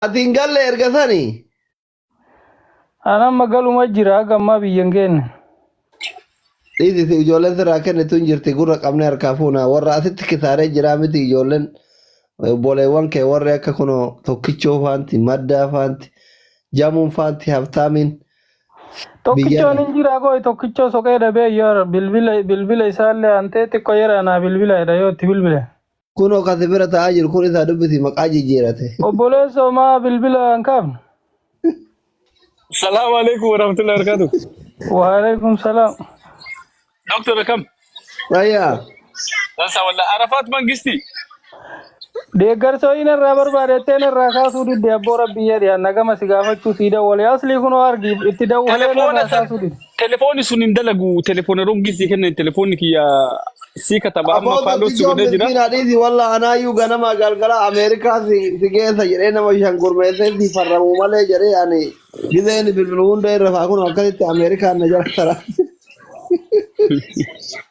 Ati hin galle erga sani. An amma galuma jira gammaa biyyan keenya. Dhiisi si ijoolleen sirraa kennitu hin jirti gurra qabnee harkaa fuuna warra asitti kisaaree jiraa miti ijoolleen obboleewwan kee warri akka kunoo tokkichoo faanti maddaa faanti jamuun faanti habtaamiin Tokkichoon biyyaarra hin jiraa koo tokkichoo soqee dhabee yor bilbila bilbila isaallee antee xiqqoo yeraa naa bilbila jedha yoo itti bilbile. Kunoo kan si bira taa'aa jiru kun isaa dubbisi maqaa jijjiirate. Obboleessoo maa bilbila hin kaafne? Salaamu alaikum warahmatullahi wabarakatuh. Waalaikum salaam. Doktor akkam? Fayyaa. Dansa walla Arafaat Mangisti. Deeggarsa ho'iin irraa barbaadettee irraa kaasuu didde abboo rabbii jedhe nagama si gaafachuu sii dawwale aslii kunoo argi itti dawwalee Telefoona irraa san kaasuu didde. Telefoonni sun hin dalagu. Telefoona rongii sii kennan telefoonni kiyya sii kataba amma Aboo faalloo si tokkichoon godhee jira. miskiina dhiisi walla anaayyuu ganamaa galgala Ameerikaa si si geessa jedhee nama shan gurmeessee si farramuu malee jedhee ani gizeen bilbilu hunda irra faa kun akkasitti Ameerikaan na jala tara.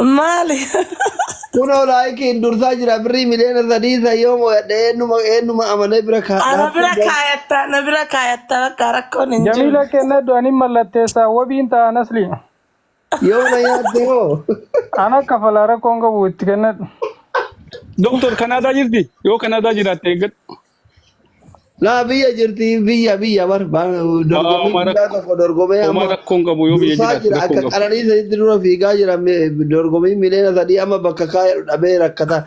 Maali? Kunoo laayikiin dursaa jira birrii miliyoona sadii isa yoo mo'adhe eenyuma eenyuma amanee bira kaa Ana dhaabbii bira bar. kaayatta, na bira kaayatta bakka rakkoon hin jiru. Jamila kennadhu anin mallatteessa wabiin ta'a nasli. Yoo na nyaatte hoo? Ana kafala rakkoon qabu itti kennadhu. Doktor Kanaadaa jirti? Yoo Kanaadaa jiraatte eeggadhu. Laa biyya jirti biyya biyya bar bar- Aa, dorgommii Omar guddaa tokko dorgomee Omar amma rakkoo hin qabu yoo biyya dursaa jiraate jira rakkoo akka hin qabu. qananii sanitti dura fiigaa jira mi- dorgommii miliyoona sadii amma bakka kaayadhu dhabee rakkata.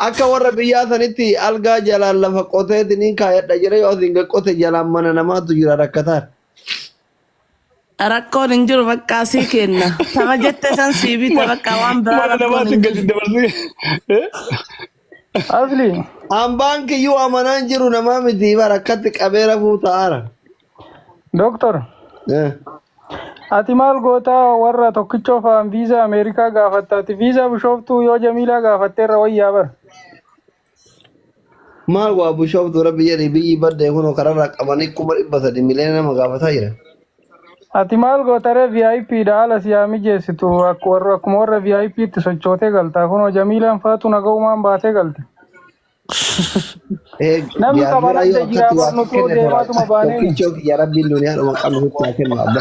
Akka warra biyyaa sanitti algaa jalaan lafa qoteetiniin kaayadha jira yoo asiin gad qote jalaan mana namaatu jira rakkataan. Rakkoon hin jiru baqqaa sii kenna. Tama jette san sii bita baqqaa waan biraa Mana rakkoon namaatti hin gadi jiru. dabarsee. Eh? Asli. Ambaan kiyyuu amanaan jiru namaa miti bara akkatti qabee rafuu ta'aara. Doktor. Eh. Ati maal gootaa warra tokkichoo fa'aan viizaa Ameerikaa gaafatta. Ati viizaa bishooftuu yoo Jamiilaa gaafatteerra wayyaa bara. Maal waa bushooftu rabbi jedhi biyyi badde kuno kararraa qabanii kuma dhibba sadi miliyoona nama gaafataa jiran. Ati maal gootaree VIP dha haala si haa mijeessitu Akk- warra- akkuma warra VIP itti sochootee galtaa kunoo Jamiilaan faatu nagaumaan baatee galte. Ee Namni jaarmee qaban adda ayyoo jira akkatti waa barnutoo kenne tola deemaatuma baaneen. tokkichoo kiyya rabbiin duniyaa dhuma qabnu sitti haa kennu abba.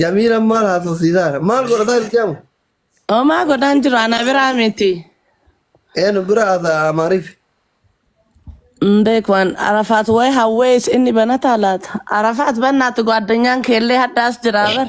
Jamiila maal haasofsiisaara? Maal godhataa jirti amma? Omaa godhaan jiru ana biraa miti. Eenu bira haasa'a Amaariif. Hin beeku an Arafaat wayi hawwee is inni banataa laata? Arafaat bannaati gwaadanyaan keellee haddaas jira bar.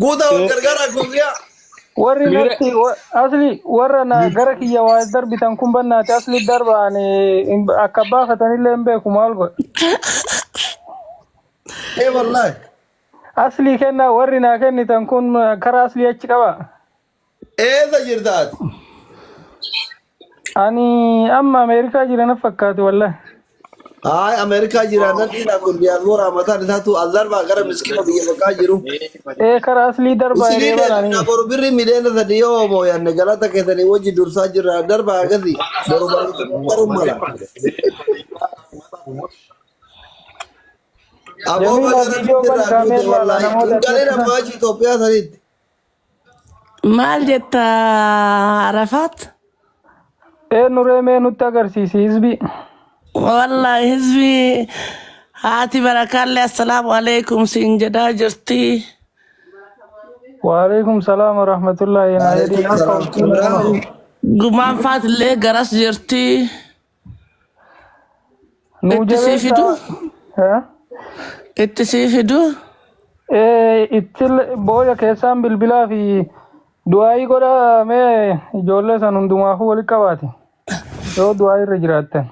Guutaa wal gargaaraa guyyaa. Warri Miira- natti wa- asli warra na gara kiyya waa darbitan kun bannaati asli darba ani hin- akka baafatanillee hin beeku maal godha. Ee wallaahi. Asli kenna warri naa kennitan kun karaa asli achi qaba. Eessa jirta ati? Ani amma Ameerikaa jira na fakkaate wallahi. Haay Ameerikaa jira nan dhiisaa kun diyaasbooraa mataan isaatu as darbaa gara miskiina biyya bakkaa jiru. Ee karaa aslii darbaa Isinii hiree deebifna banaanii. boru birri miliyoona sadii yoo hoomoyanne galata keessanii wajji dursaa jirra darbaa akkasii boru barumsa qaqqaruun mala. Aboo Jamiilaa baga rabbi viidiyoo sirraa bani duute kaameen laala wallaahi. namoota Hin galin akkamitti ammaa achi Itoophiyaa sanitti. Maal jetta Arafaat? Eenyu ree mee nutti agarsiisi hizbii. Wallahi hizbii haati barakaallee assalaamu alaikum siin jedhaa jirti. Waalaikum salaam wa rahmatullahi na jedhin Waalaikum akka salaam. urjii nama. Gumaan faatillee garas jirti. Nuu Itti sii jabeessa. fiduu? Eh? Itti sii fiduu? Eh, itti booya keessaan bilbilaa fi du'aayii godhaa mee ijoollee san hundumaafuu walitti qabaati. Yoo du'aayii irra jiraattan.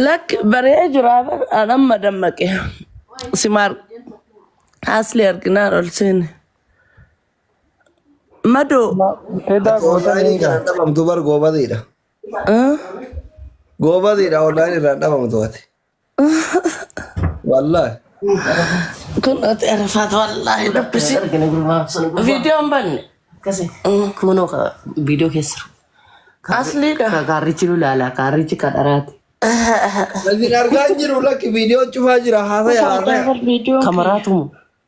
Lakki baree jiraa bar an amma dammaqe. Simaar asli arginaan ol seene. Madoo Edaa Goota gootanii ni egaa. galan dhabamtu bar goobaziidha. Goobazidha online irraa dhabamu to'ate. Wallahi. Kun ati arfaat wallaahi dubbisi. Viidiyoon banne. Kunoo viidiyoo keessa jiru. Asliidha. Kaarrichi nu ilaala. Kaarrichi kan dharaati. Isin argaa hin jiru lakki viidiyoo cufaa jira haasaya haasaya. Kamaraatumu.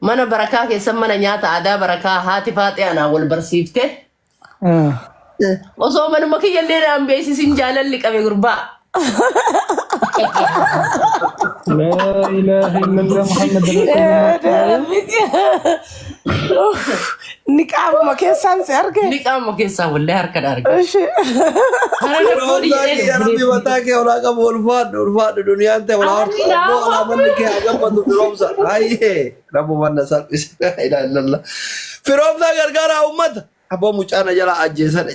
Mana barakaa keessan mana nyaata aadaa barakaa haati faaxee anaa wal barsiifte. Ah. Osoo manuma kiyya illee naan beeksisin jaalalli qabe gurbaa. Laa ilaaha illallah Muhammad Rasulullah. Rabbitti. Niqaabuma keessaan si arge. Ni qaama keessaa wallee harka dhaarge. Ishi. Hara Yeroo fuudhi hundaa jedhee kiyya rabbi mataa kee olaa qabu ulfaadhu ulfaadhu duniyaan ta'e olaa Rabbi ulfaadhu naa olaa manni kee haa gabbatu firoomsa hayyee rabbu manna salphise ilaalalla firoomsaa gargaaraa uummata abboo mucaa na jalaa ajjeesane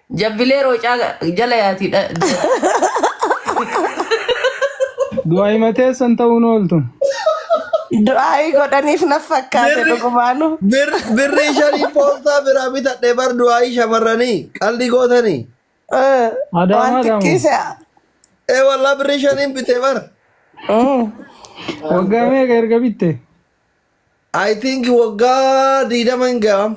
Jabbilee roocaa jala yaati. dha- Du'a himateessan ta'uun ooltu. Du'aayii godhaniif na fakkaate Birri dhugumaanu. bir- birrii shanii poostaa biraa bitadhe bar du'aayii shamarranii qaldi gootanii. Eh, Waan Adaamaa daamu. xiqqeessa. Ee wallaa birrii shaniin bite bar. Mm. Waggaa meeqa erga bitte? I think waggaa diidama hin gahamu.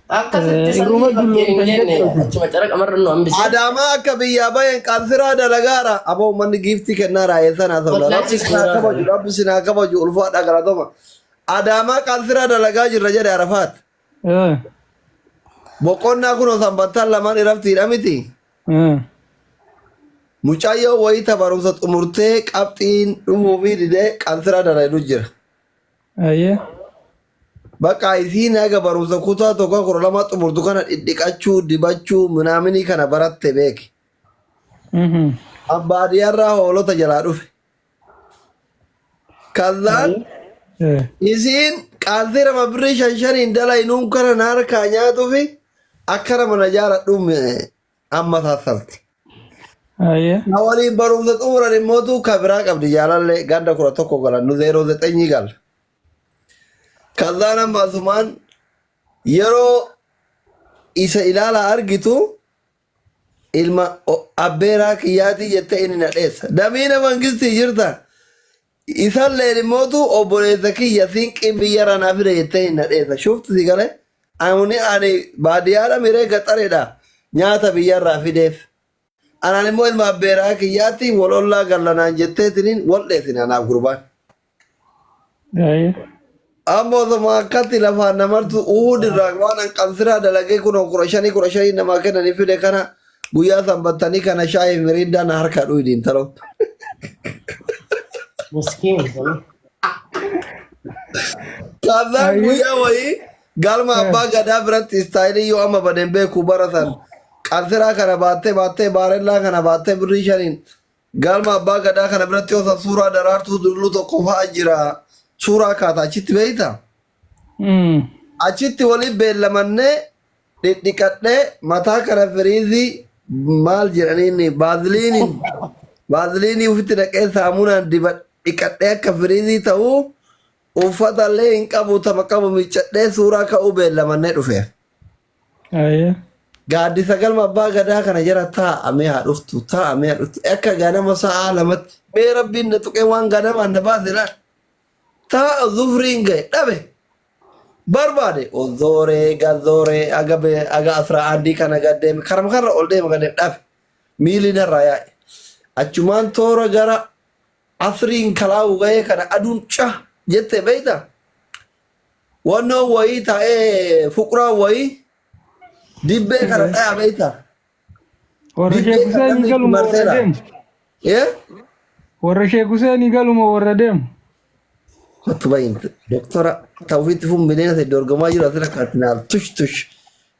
Akkasitti Eh, irruma sanyii dulloomtan fakkeenya jenne jechuudha. achuma caraqa marra nu hambise. Adaamaa akka biyyaa bayan qaansiraa dalagaara. Aboo manni giiftii kennaa raayee sanaa sabla. Rabbi Wallaachis sinaa suuraa kabaju, sana. rabbi sinaa kabaju ulfaadhaa galatoma. Adaamaa qaansiraa dalagaa jirra jedhe Arafaat. Eh, Boqonnaa kunoo sanbattaan lamaan iraftiidha miti. eh. Mucayyoo wayita barumsa xumurtee qabxiin dhufuu fi didee qaansiraa dalagdu jira. Ayyee. Baqaa isiin haga barumsa kutaa tokkoo kudha lamaa xumurtu kana dhidhiqachuu dibachuu minaaminii kana baratte beeki. An baadiyarraa hoolota jalaa dhufe. Kazaan isiin qaaltii lama birrii shan shaniin dalaynuun kana na harkaa nyaatufi akkana mana jaaradhuun amma saassalte. Na waliin barumsa xumuran immootu ka biraa qabdi jaalallee ganda kudha tokko galan nu zeeroo zexenyii galla. Kazaan amma asumaan yeroo isa ilaalaa argitu ilma o- abbeeraa kiyyaatii jette inni na dheessa. Damiina mangistii jirta. Isalleen immootu obboleessa kiyya siinqiin biyyarraa naa fide jettee inni na dheessa. Shufti si galee ani ani baadiyyaadha miree gaxareedha nyaata biyyarraa fideef. Anaan immoo ilma abbeeraa kiyyaatti wal ollaa galla naan jetteetiniin wal dheesine anaaf gurbaan. Aye. Amma osoma akkatti lafaan namartu Uhud irraa waan an qansiraa dalagee kunoo kudha shanii kudha shanii namaa kennanii fide kana guyyaa sanbattanii kana shaayii fi miriindaa na harkaa dhuydi intaloo. Miskiin. Kaasaan Aye. guyyaa wayii Galma abbaa gadaa biratti istaayilii yoo amma badeen beeku bara san qansiraa kana baattee baattee baarellaa kana baattee birrii shaniin galma abbaa gadaa kana biratti yoo san suuraa daraartuu durluu tokko fa'a jira suuraa kaata achitti beeyta. Achitti waliin beellamannee dhidhiqadhee mataa kana firiizii maal jedhaniin baaziliiniin baaziliinii ofitti naqee saamunaan diba dhiqadhee akka firiizii ta'uu Uffata illee hin qabu tapha qabu miiccadhee suuraa ka'uu beellamannee dhufeef. Aye. Gaaddisa galma abbaa gadaa kana jala taa'a mee haa dhuftu taa'a mee haa dhuftu akka ganama sa'aa lamatti mee rabbiin na tuqee waan ganamaan na baase laal. Taa'a zufriin ga'e dhabe barbaade ozooree gazooree aga bee aga asraa andii kana gaddeeme karama karra ol deema gaddeeme dhabe miilli narraa yaa'e. Achumaan toora gara Asrii hin kalaawu gahee kana aduun ca jette beeyta wannoon wayii taa'ee fuqraan wayii dibbee kana dhaya beeyta Warra dibbee Sheek kan Huseen namni itti galuma warra marseera deemu. ee Warra Sheek Huseen galuma warra deemu. kottu bayin doktora tawfiitti fun bineensa dorgomaa jiru asirra kaatinaal tush tush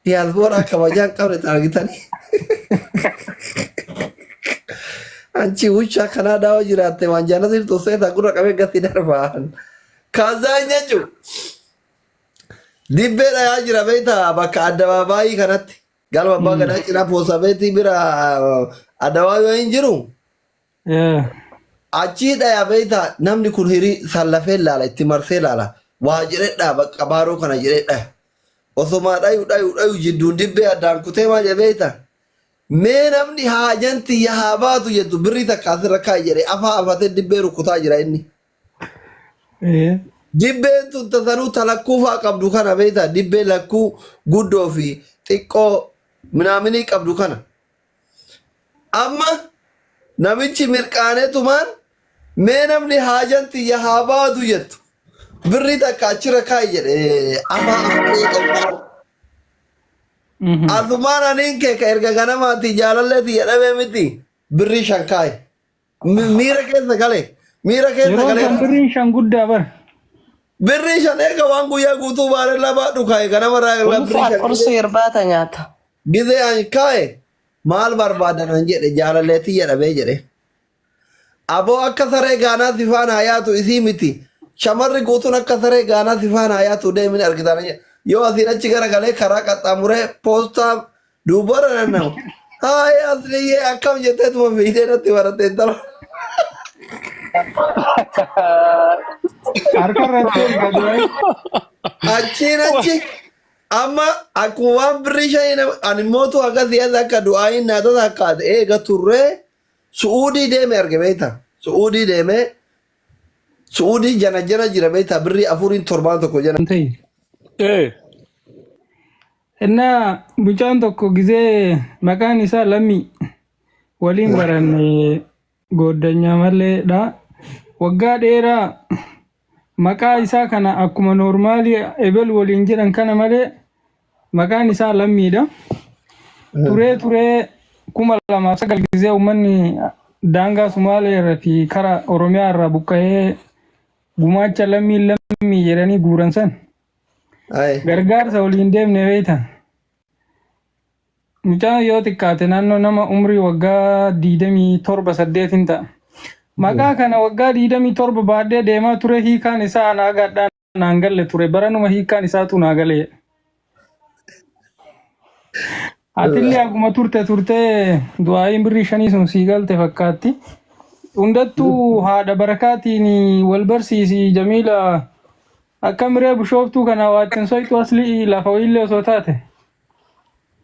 Diyaasbooraa kabajaan qabne taargitanii. Anchi wuchaa kanaa daawaa jiraatte waan jaana sirtuu seetaa gurra qabee gatti darbaan. Kaazaa hin jechu. Dibbee dhayaa jira beektaa bakka addabaabaayii kanatti. Galma abbaa gadaa cinaa poosabeetii bira adawaa yoo hin jiru. Eh, Achii dhaya beektaa namni kun hirii sallafee laala itti marsee laala waa jedhee dhaa bakka baaroo kana jedhee dhaya. Osomaa dhayu dhayu dhayu jidduun dibbee addaan kutee maa jedhe beektaa? Mee namni haajan tiyya haa baatu jettu birrii takka asirra kaa'i jedhee afaa afatee dibbee rukkutaa jira inni. eh, Dibbeen tun tasanuu ta lakkuu fa'aa qabdu kana beektaa dibbee lakkuu guddoo fi xiqqoo minaaminii qabdu kana. Amma namichi mirqaanetumaan mee namni haajan tiyya haa baadu jettu birri takka achirra kaa'i jedhe afaa afree qabaa. Mhm. Asumaan aniin kee ka erga ganamaatii jaalallee tiyya dhabee miti birrii shan kaa'i. Mi- Miira keessa galee. Miira keessa Yeroo galee. san birriin shan guddaa bar. Birrii shan eega waan guyyaa guutuu baaree labaa dhukaa'e kanama irraa eegalaa birrii Ulfaa shan qursii irbaata nyaata. gizee an kaa'e maal barbaadan an jedhe jaalalleetti jedhamee jedhe. Aboo akka saree gaanaa si faana haa yaatu isii miti. Shamarri guutuun akka saree gaanaa si faana haa yaatu deemin argitaan jedhe. Yoo asiin achi gara galee karaa qaxxaamuree poostaa Dubara na nau. Hai asli ye akam jete tu video na tiwara tentar. Harka irratti ol gadi wayi. Achiin achi amma akkuma waan birrii shanii nama ani mootu akka siyaasa akka du'aayin naa tasa akka ati eega turre su'uudii deeme arge beekta. Su'uudii deeme su'uudii jana jana jira beekta birrii afuriin torbaan tokko jana. Wanti ee Innaa mucaan tokko gizee maqaan isaa Lammii waliin baranne gooddanyaa maleedha. Waggaa dheeraa maqaa isaa kana akkuma noormaalii ebel waliin jedhan kana malee maqaan isaa Lammiidha. Turee turee kuma lamaaf sagal gizee uummanni daangaa Sumaalee irraa fi kara Oromiyaa irraa buqqa'ee gumaacha Lammii Lammii jedhanii guuran san. Aye. Gargaarsa waliin deemne beektan. Mucaan yoo xiqqaate naannoo nama umrii waggaa 27 8 hin ta'a. Maqaa kana waggaa 27 baadhee deemaa ture hiikaan isaa anaa gaadhaan naan galle ture baranuma hiikaan isaatu naa galee. Atillee akkuma turte turtee du'aayiin birrii shanii sun sii galte fakkaatti. Hundattuu haadha barakaatiin wal barsiisi Jamiila Akkam ree bushooftuu kana waattin soyxu aslii lafa wayiillee osoo taate.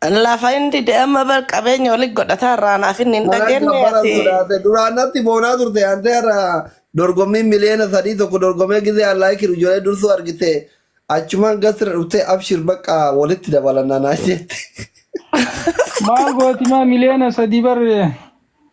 Lafa hin dide amma bar qabeenya oli godhataa irraa naaf inni hin Maal akka dhageenye bara ati sodaate duraan natti boonaa turte antee irra dorgommiin miliyoona sadii tokko dorgomee gizee allaa kiru ijolee dursuu argite achumaan gasra dhufte abshir bakka walitti dabalanna naan jette. Maal gooti maa miliyoona sadii bar